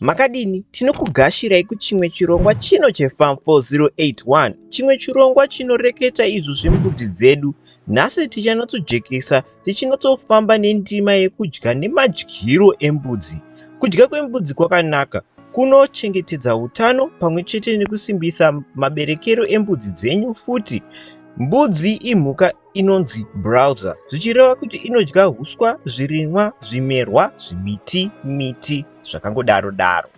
Makadini? Tinokugashirai kuchimwe chirongwa chino cheFarm 4081, chimwe chirongwa chinoreketa izvo zvembudzi dzedu. Nhasi tichanotsojekesa tichinotsofamba nendima yekudya nemadyiro embudzi. Kudya kwembudzi kwakanaka kunochengetedza utano pamwe chete nekusimbisa maberekero embudzi dzenyu futi. Mbudzi imhuka inonzi browser zvichireva kuti inodya huswa, zvirimwa, zvimerwa, zvimiti, miti zvakangodaro daro.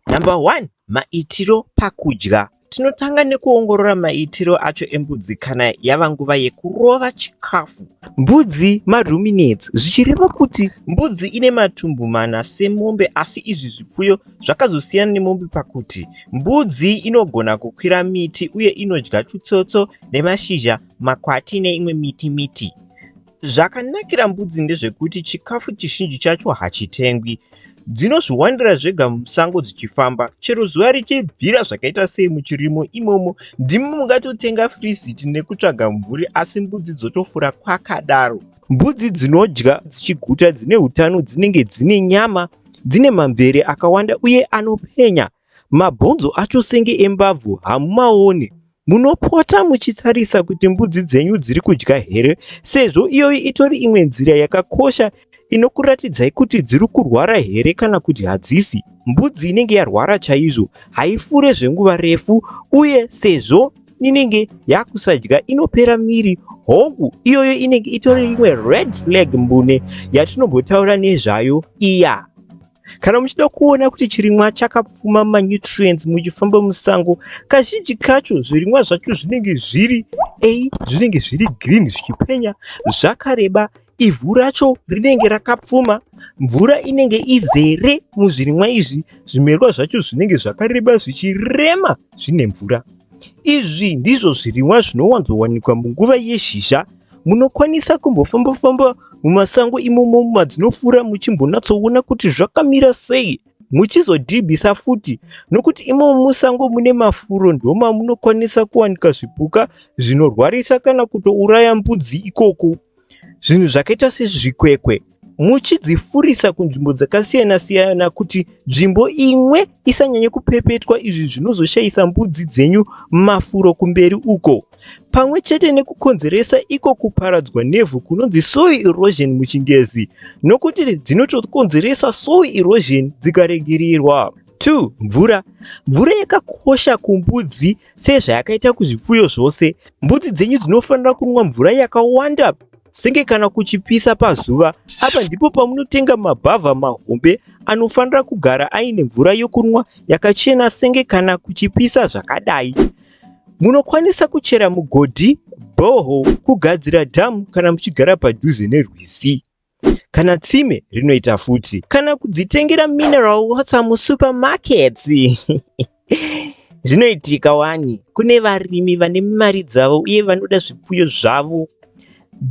Number one, maitiro pakudya. Tinotanga nekuongorora maitiro acho embudzi kana yava nguva yekurova chikafu. Mbudzi maruminates zvichireva kuti mbudzi ine matumbu mana semombe asi izvi zvipfuyo zvakazosiyana nemombe pakuti mbudzi inogona kukwira miti uye inodya tutsotso nemashizha makwati neimwe miti miti. Zvakanakira mbudzi ndezvekuti chikafu chizhinji chacho hachitengwi. Dzinozviwanira zvega musango dzichifamba. Chero zuva richibvira zvakaita sei muchirimo imomo, ndimi mungatotenga firiziti nekutsvaga mvuri asi mbudzi dzotofura kwakadaro. Mbudzi dzinodya dzichiguta, dzine utano, dzinenge dzine nyama, dzine mamvere akawanda uye anopenya. Mabhonzo acho senge embabvu hamumaone. Munopota muchitarisa kuti mbudzi dzenyu dziri kudya here sezvo iyoyi itori imwe nzira yakakosha inokuratidzai kuti dziri kurwara here kana kuti hadzisi. Mbudzi inenge yarwara chaizvo haifure zvenguva refu uye sezvo inenge yakusadya inopera miri hongu iyoyo inenge itori imwe red flag mbune yatinombotaura nezvayo iya Kana muchida kuona kuti chirimwa chakapfuma manutrients muchifamba musango, kazhinji kacho zvirimwa zvacho zvinenge zviri a zvinenge zviri green zvichipenya zvakareba ivhu racho rinenge rakapfuma mvura inenge izere muzvirimwa izvi zvimerwa zvacho zvinenge zvakareba zvichirema zvine mvura izvi ndizvo zvirimwa zvinowanzowanikwa munguva yezhizha Munokwanisa kumbofamba-famba mumasango imomo madzinofura muchimbonatsoona kuti zvakamira sei muchizodhibhisa futi nokuti imomo musango mune mafuro ndoma munokwanisa kuwanika zvipuka zvinorwarisa kana kutouraya mbudzi ikoko zvinhu zvakaita sezvikwekwe muchidzifurisa kunzvimbo dzakasiyana siyana kuti nzvimbo imwe isanyanye kupepetwa izvi zvinozoshayisa mbudzi dzenyu mafuro kumberi uko pamwe chete nekukonzeresa iko kuparadzwa nevhu kunonzi soil erosion muchingezi nokuti dzinotokonzeresa soil erosion dzikaregererwa 2 mvura mvura yakakosha kumbudzi sezvayakaita kuzvipfuyo zvose mbudzi dzenyu dzinofanira kunwa mvura yakawanda senge kana kuchipisa pazuva. Apa ndipo pamunotenga mabhavha mahombe anofanira kugara aine mvura yokunwa yakachena senge kana kuchipisa zvakadai. Munokwanisa kuchera mugodhi, bhoho, kugadzira dhamu kana muchigara padhuze nerwizi kana tsime rinoita futi kana kudzitengera mineral water musupermarkets. Zvinoitika wani, kune varimi vane mari dzavo uye vanoda zvipfuyo zvavo.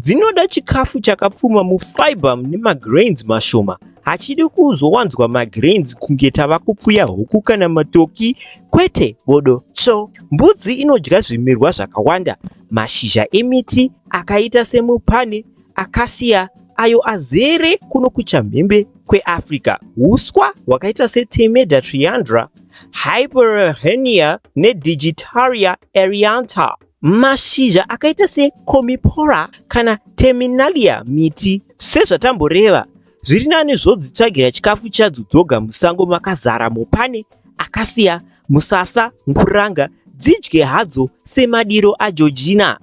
Dzinoda chikafu chakapfuma mufiber mune magrains mashoma. Hachidi kuzowanzwa magrains kunge tava kupfuya huku kana matoki, kwete bodo tsvo. Mbudzi inodya zvimirwa zvakawanda, mashizha emiti akaita semupane, Acacia ayo azere kuno kuchamhembe kweAfrica. Huswa hwakaita seTemeda triandra, Hyperhenia neDigitaria erianta. Mashizha akaita seComipora kana Terminalia miti. Sezvatamboreva, zviri nani zvodzitsvagira chikafu chadzo dzoga musango makazara mopane, acacia, Musasa, nguranga dzidye hadzo semadiro aJojina.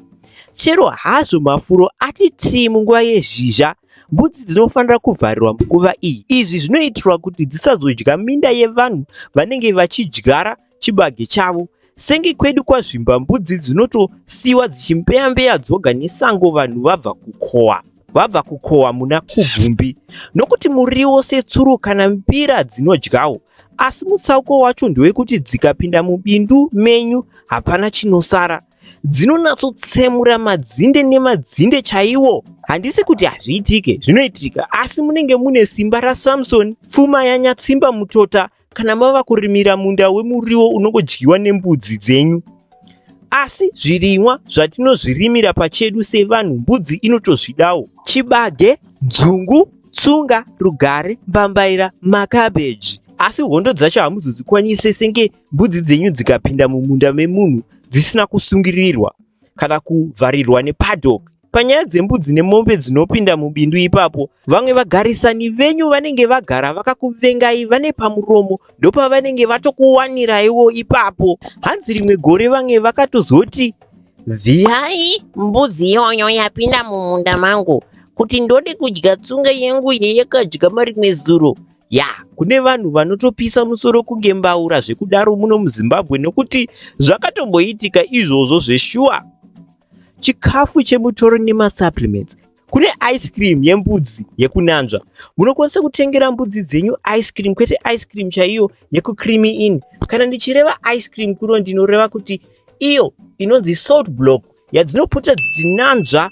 Chero hazvo mafuro ati tii munguva yezhizha, mbudzi dzinofanira kuvharirwa munguva iyi. Izvi zvinoitirwa kuti dzisazodya minda yevanhu vanenge vachidyara chibage chavo. Senge kwedu kwaZvimba mbudzi dzinotosiiwa dzichimbeya-mbeya dzoga nesango vanhu vabva kukohwa. vabva kukohwa muna Kubvumbi nokuti muriwo setsuro kana mbira dzinodyawo asi mutsauko wacho ndewekuti dzikapinda mubindu menyu hapana chinosara dzinonatsotsemura madzinde nemadzinde chaiwo handisi kuti hazviitike zvinoitika asi munenge mune simba rasamsoni pfuma yanyatsimba mutota Kana mava kurimira munda wemuriwo unongodyiwa nembudzi dzenyu. Asi zvirimwa zvatinozvirimira pachedu sevanhu mbudzi inotozvidawo. Chibage, dzungu, tsunga, rugare, mbambaira, makabheji. Asi hondo dzacho hamuzodzikwanise senge mbudzi dzenyu dzikapinda mumunda memunhu dzisina kusungirirwa kana kuvharirwa nepaddock Panyaya dzembudzi nemombe dzinopinda mubindu ipapo, vamwe vagarisani venyu vanenge vagara vakakuvengai vane pamuromo ndopavanenge vatokuwaniraiwo ipapo. Hanzi rimwe gore vamwe vakatozoti vhiyai mbudzi iyoyo yapinda mumunda mangu kuti ndode kudya tsunga yangu yeyakadya marimwe zuro ya kune vanhu vanotopisa musoro kunge mbaura zvekudaro muno muzimbabwe nokuti zvakatomboitika izvozvo zveshuwa chikafu chemutoro nemasupplements kune ice cream yembudzi yekunanzva munokwanisa kutengera mbudzi dzenyu ice cream kwete ice cream chaiyo yekucreamy in kana ndichireva ice cream kuno ndinoreva kuti iyo inonzi salt block yadzinopota dzichinanzva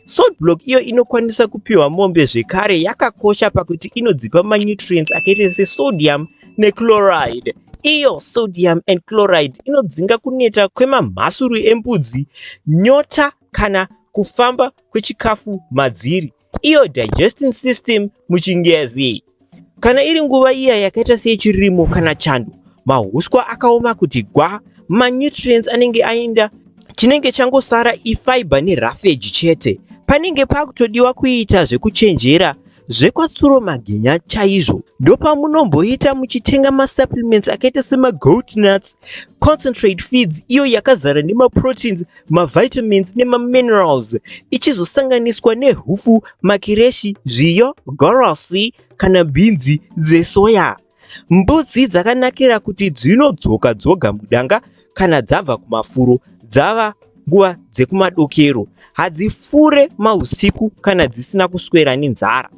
salt block iyo inokwanisa kupiwa mombe zvekare yakakosha pakuti inodzipa manutrients akaita sesodium nechloride iyo sodium and chloride inodzinga kuneta kwemamhasuru embudzi nyota kana kufamba kwechikafu madziri iyo digesting system muchingezi kana iri nguva iya yakaita seyechirimo kana chando mahuswa akaoma kuti gwa manutrients anenge aenda chinenge changosara ifiber nerafeji chete panenge pakutodiwa kuita zvekuchenjera zvekwatsuro magenya chaizvo ndopamunomboita muchitenga masupplements akaita semagoat nuts concentrate feeds iyo yakazara nemaproteins mavitamins nemaminerals ichizosanganiswa nehupfu makireshi zviyo gorosi kana bhinzi dzesoya Mbudzi dzakanakira kuti dzinodzoka dzoga mudanga kana dzabva kumafuro dzava nguva dzekumadokero. Hadzifure mahusiku kana dzisina kuswera nenzara.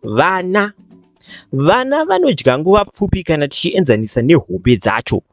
Vana. Vana vanodya nguva pfupi kana tichienzanisa nehombe dzacho.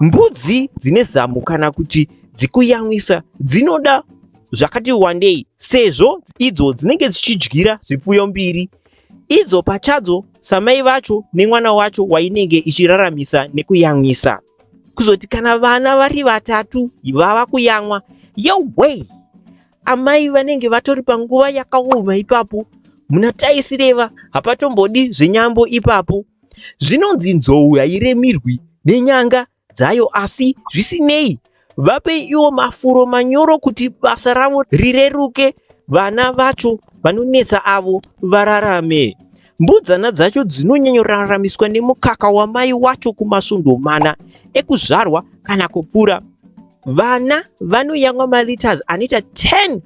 Mbudzi dzine zamu kana kuti dzikuyamwisa dzinoda zvakati wandei sezvo idzo dzinenge dzichidyira zvipfuyo mbiri idzo pachadzo samai vacho nemwana wacho wainenge ichiraramisa nekuyamwisa kuzoti kana vana vari vatatu vava kuyamwa yowei Amai vanenge vatori panguva yakaoma ipapo. Muna Taisireva hapatombodi zvenyambo ipapo. Zvinonzi nzou hairemirwi nenyanga dzayo asi zvisinei vape iwo mafuro manyoro kuti basa ravo rireruke vana vacho vanonetsa avo vararame. Mbudzana dzacho dzinonyanyoraramiswa nemukaka wamai wacho kumasvondo mana ekuzvarwa kana kupfuura. Vana vanoyamwa maliters anoita 10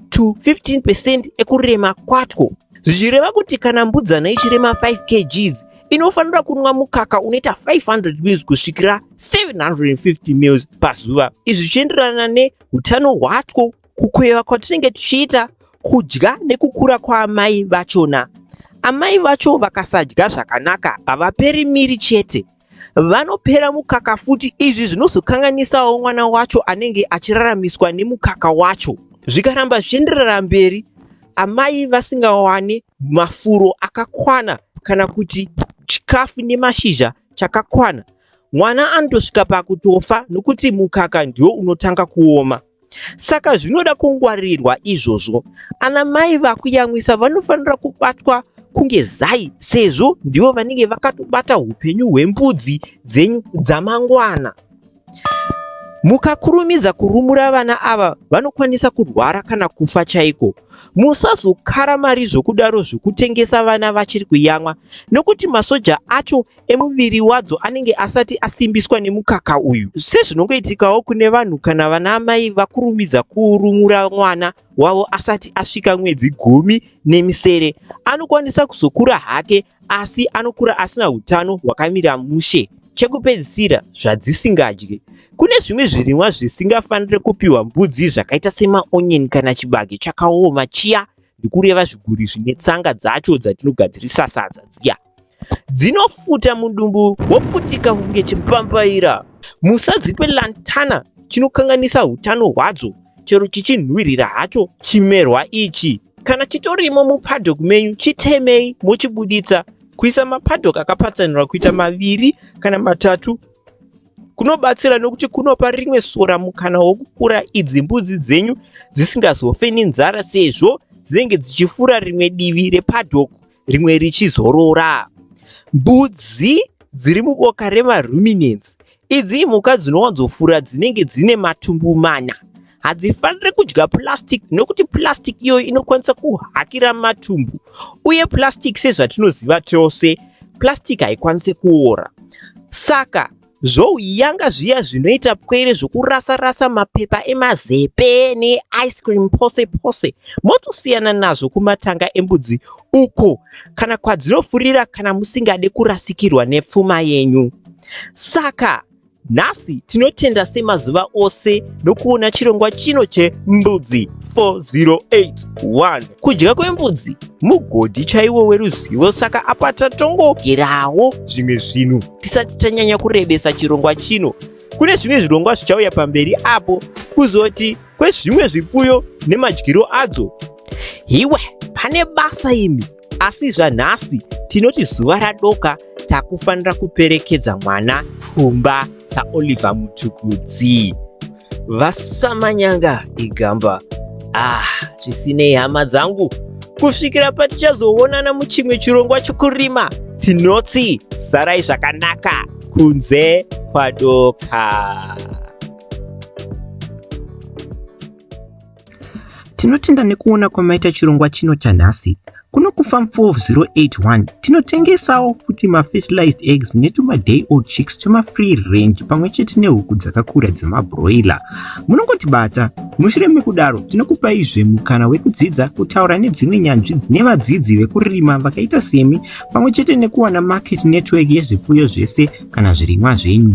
to 15 percent ekurema kwatwo zvichireva kuti kana mbudzana ichirema 5 kgs inofanira kunwa mukaka unoita 500 mils kusvikira 750 mils pazuva izvi zvichienderana neutano hwatwo kukweva kwatinenge tichiita kudya nekukura kwaamai vachona amai vacho vakasadya zvakanaka havaperi miri chete vanopera mukaka futi izvi zvinozokanganisawo mwana wacho anenge achiraramiswa nemukaka wacho zvikaramba zvichienderera mberi amai vasingawane mafuro akakwana kana kuti chikafu nemashizha chakakwana mwana anotosvika pakutofa nokuti mukaka ndiwo unotanga kuoma. Saka zvinoda kungwarirwa izvozvo. Ana mai vakuyamwisa vanofanira kubatwa kunge zai sezvo ndivo vanenge vakatobata upenyu hwembudzi dzenyu dzamangwana. Mukakurumidza kurumura vana ava vanokwanisa kurwara kana kufa chaiko. Musazokara mari zvokudaro zvokutengesa vana vachiri kuyamwa nokuti masoja acho emuviri wadzo anenge asati asimbiswa nemukaka uyu sezvinongoitikawo kune vanhu kana vana amai vakurumidza kurumura mwana wavo asati asvika mwedzi gumi nemisere anokwanisa kuzokura hake asi anokura asina utano hwakamira mushe chekupedzisira zvadzisingadye kune zvimwe zvirimwa zvisingafanire kupiwa mbudzi zvakaita semaonyeni kana chibage chakaoma chiya ndikureva zviguri zvine tsanga dzacho dzatinogadzirisa sadza dziya dzinofuta mudumbu woputika kunge chimpambaira musadzipe lantana chinokanganisa utano hwadzo chero chichinhuhwirira hacho chimerwa ichi kana chitorimo mupadhock menyu chitemei mochibuditsa kuisa mapadhock akapatsanirwa kuita maviri kana matatu kunobatsira nokuti kunopa rimwe sora mukana wokukura idzi mbudzi dzenyu dzisingazofe nenzara sezvo dzinenge dzichifura rimwe divi repadhock rimwe richizorora. Mbudzi dziri muboka remaruminants. Idzi imhuka dzinowanzofura dzinenge dzine matumbu mana. Hadzifanire kudya plastic nokuti plastic iyoyo inokwanisa kuhakira matumbu uye plastic sezvatinoziva tose plastic haikwanise kuora saka Zvouyanga zviya zvinoita pwere zvokurasa rasa mapepa emazepe ne ice cream pose pose motosiyana nazvo kumatanga embudzi uko kana kwadzinofurira kana musingade kurasikirwa nepfuma yenyu. Saka Nhasi tinotenda semazuva ose nokuona chirongwa chino chembudzi 4081 kudya kwembudzi mugodhi chaiwo weruzivo saka apa tatongogerawo zvimwe zvinhu tisati tanyanya kurebesa chirongwa chino kune zvimwe zvirongwa zvichauya pamberi apo kuzoti kwezvimwe zvipfuyo nemadyiro adzo hiwe pane basa imi asi zvanhasi tinoti zuva radoka takufanira kuperekedza mwana kumba saoliver mutukudzi vasamanyanga igamba ah zvisinei hama dzangu kusvikira patichazoonana muchimwe chirongwa chokurima tinoti sarai zvakanaka kunze kwadoka Tinotenda nekuona kwamaita chirongwa chino chanhasi. Kuno kuFarm 4081 tinotengesawo futi mafertilized eggs netumaday old chicks twemafree range pamwe chete nehuku dzakakura dzemabroiler. Munongotibata. Mushure mekudaro tinokupaizve mukana wekudzidza kutaura nedzimwe nyanzvi nevadzidzi vekurima vakaita semi pamwe chete nekuwana market network yezvipfuyo zvese kana zvirimwa zvenyu.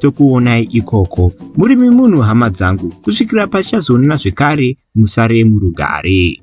tokuonai ikoko murimi munhu hama dzangu kusvikira pachazoonana zvekare musare murugare